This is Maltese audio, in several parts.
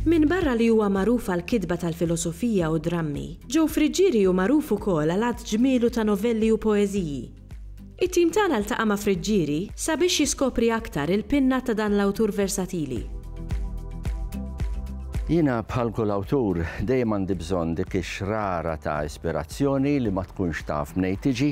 Minbarra li huwa magħruf għal kitba tal-filosofija u drammi, Joe Friggieri hu magħruf ukoll għal għadd ġmielu ta' novelli u poeżiji. It-tim tagħna ltaqa' ma' Friggieri sabiex jiskopri aktar il-pinna ta' dan l-awtur versatili. Jiena bħal kull awtur dejjem għandi bżonn dik ix-xrara ta' ispirazzjoni li ma tkunx taf mnejn tiġi,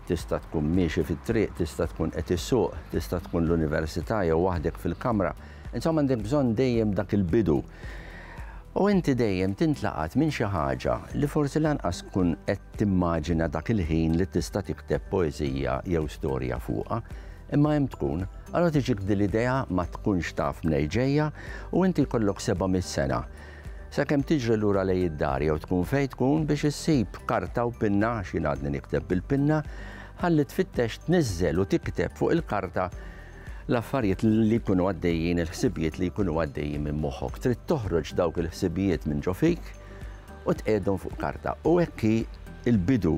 tista' tkun miexi fit-triq, tista' tkun qed issuq, tista' tkun l-università jew waħdek fil-kamra, Insomma għandek bżonn dejjem dak il-bidu. U inti dejjem tintlaqat minn xi ħaġa li forsi lanqas tkun qed timmaġina dak il-ħin li tista' tikteb poeżija jew storja fuqha, imma hemm tkun, allora tiġik din l-idea ma tkunx taf mnejn ġejja u inti jkollok 700 sena sakemm tiġri lura lejn id-dar jew tkun fejn tkun biex issib karta u pinna għax jien għadni nikteb bil-pinna, ħalli tfittex tniżżel u tikteb fuq il-karta l-affarijiet li jkunu għaddejjin, il-ħsibijiet li jkunu għaddejjin minn moħħok. Trid toħroġ dawk il-ħsibijiet minn ġo fik u tqegħdhom fuq karta. U hekk il-bidu,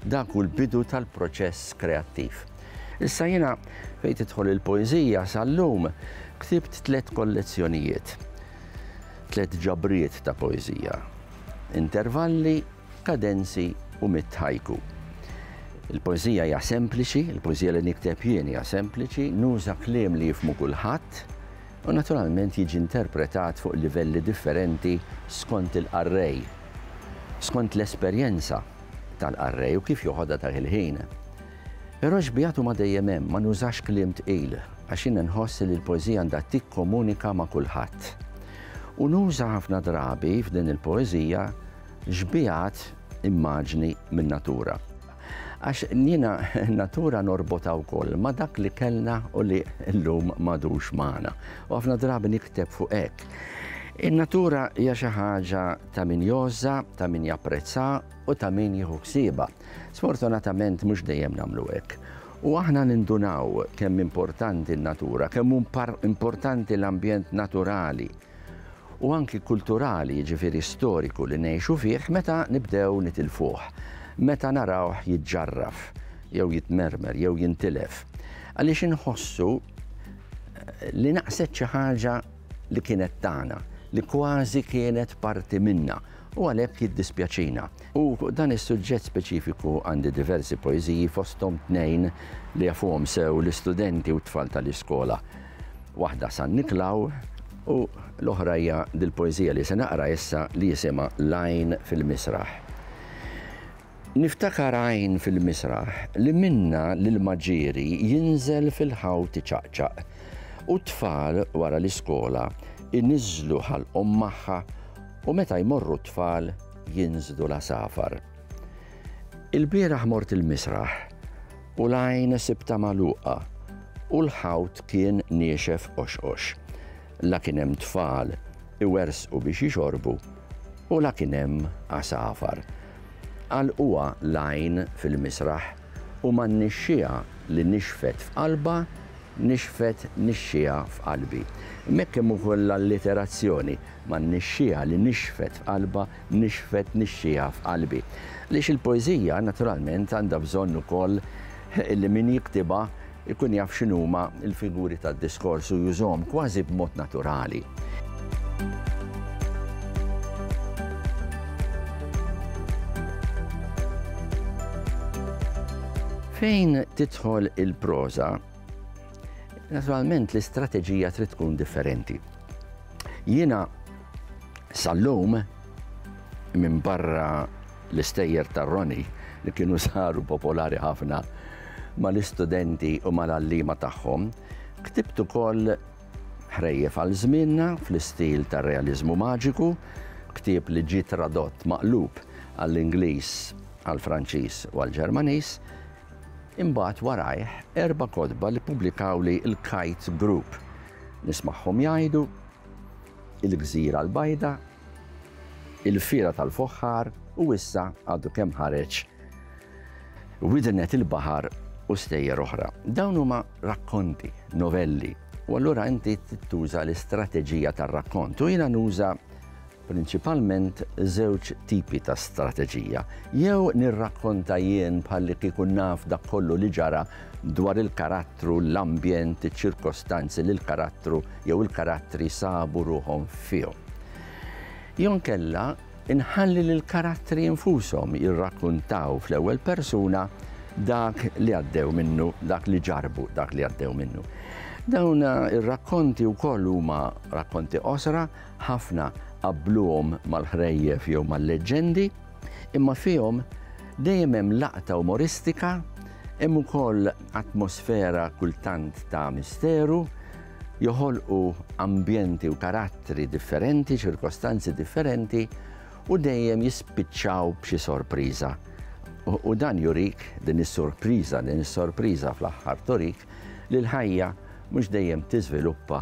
dak hu l-bidu tal-proċess kreattiv. Issa jiena fejn tidħol il-poeżija sal-lum ktibt tliet kollezzjonijiet, tliet ġabriet ta' poeżija. Intervalli kadenzi u mitt haiku. Il-poeżija hija sempliċi, il-poeżija li nikteb jien hija sempliċi, nuża kliem li jifhmu kulħadd u naturalment jiġi interpretat fuq livelli differenti skont il-qarrej, skont l-esperjenza tal-qarrej u kif joħodha dak il-ħin. Però xbigħat huma dejjem hemm, ma nużax kliem tqil għax jien nħoss li l-poeżija għandha tikkomunika ma' kulħadd. U nuża ħafna drabi f'din il-poeżija Xbiehat immaġni min-natura. Għax jiena n-natura norbotha wkoll ma' dak li kellna u li llum m'għadux magħna. U ħafna drabi nikteb fuq hekk. In-natura hija xi ħaġa ta' min jgħożżha, ta' min japprezzha u ta' min jieħu ħsiebha. Sfortunatament mhux dejjem nagħmlu hekk. U aħna nindunaw kemm importanti n-natura, kemm hu importanti l-ambjent naturali. u anki kulturali, jiġifieri storiku li ngħixu fih meta nibdew nitilfuh, meta narawh jiġġarraf jew jitmermer jew jintilef, għaliex inħossu li naqset xi ħaġa li kienet tagħna, li kważi kienet parti minna u għalhekk jiddispjaċina. U fuq dan is-suġġett speċifiku għandi diversi poeżiji fosthom tnejn li jafuhom sew l-istudenti u t-tfal tal-iskola. Waħda San Niklaw u l-oħra hija dil-poeżija li se naqra issa li jisimha L-għajn fil-misraħ. Niftakar għajn fil-misraħ li minna l-ilma ġieri jinżel fil-ħawt iċaqċaq u t-tfal wara l-iskola iniżżlu ħalqhom magħha u meta jmorru t-tfal jinżlu l-għasafar. Ilbieraħ mort il-misraħ U l-għajn sibtha magħluqa, u l-ħawt kien niexef qoxqox. La kien hemm tfal iwerżqu biex jixorbu, u la kien hemm għasafar. Għalquha l-għajn fil-misraħ, u man-nixxiegħa li nixfet f'qalbha, nixfet nixxiegħa f'qalbi. Hekk hemm ukoll l-alliterazzjoni, man-nixxiegħa li nixfet f'qalbha, nixfet nixxiegħa f'qalbi. Għaliex il-poeżija, naturalment, għandha bżonn ukoll li min jiktibha jkun jaf x'inhuma l-figuri tad-diskors u jużhom kważi b'mod naturali. Fejn tidħol il-proża, Naturalment l-istrateġija trid tkun differenti. Jiena sal-lum minn barra l-istejjer tar-Roni li kienu saru popolari ħafna mal-istudenti u mal-allima tagħhom, ktibt ukoll ħrejjef għal żmienna fl-istil tar-realiżmu maġiku, ktieb li ġie tradott maqlub għall-Ingliż, għall-Franċiż u għall-Ġermaniż, Imbagħad warajh erba' kotba li ppubblikawli l-Kite Group. Nismagħhom jgħidu, Il-Gżira l-Bajda, Il-Fiera tal-Foħħar u issa għadu kemm ħareġ Widnet il-Baħar u stejjer oħra. Dawn huma rakkonti, novelli, u allura inti trid tuża l-istrateġija tar-rakkont u jiena nuża prinċipalment żewġ tipi ta' strateġija, jew nirrakkonta jien bħallikieku naf dak kollu li ġara dwar il-karattru, l-ambjent, iċ-ċirkostanzi li l-karattru jew il-karattri sabu ruħhom fihom. Jew inkella inħalli lill-karattri infushom jirrakkuntaw fl-ewwel persuna dak li għaddew minnu, dak li ġarbu, dak li għaddew minnu. Dawn ir-rakkonti wkoll huma rakkonti qosra ħafna qabbluhom mal-ħrejjef jew mal-leġġendi, imma fihom dejjem hemm laqta umoristika, hemm ukoll atmosfera kultant ta' misteru, joħolqu ambjenti u karattri differenti, ċirkostanzi differenti u dejjem jispiċċaw b'xi sorpriża. U dan jurik din is-sorpriża, din is-sorpriża fl-aħħar turik li l-ħajja mhux dejjem tiżviluppa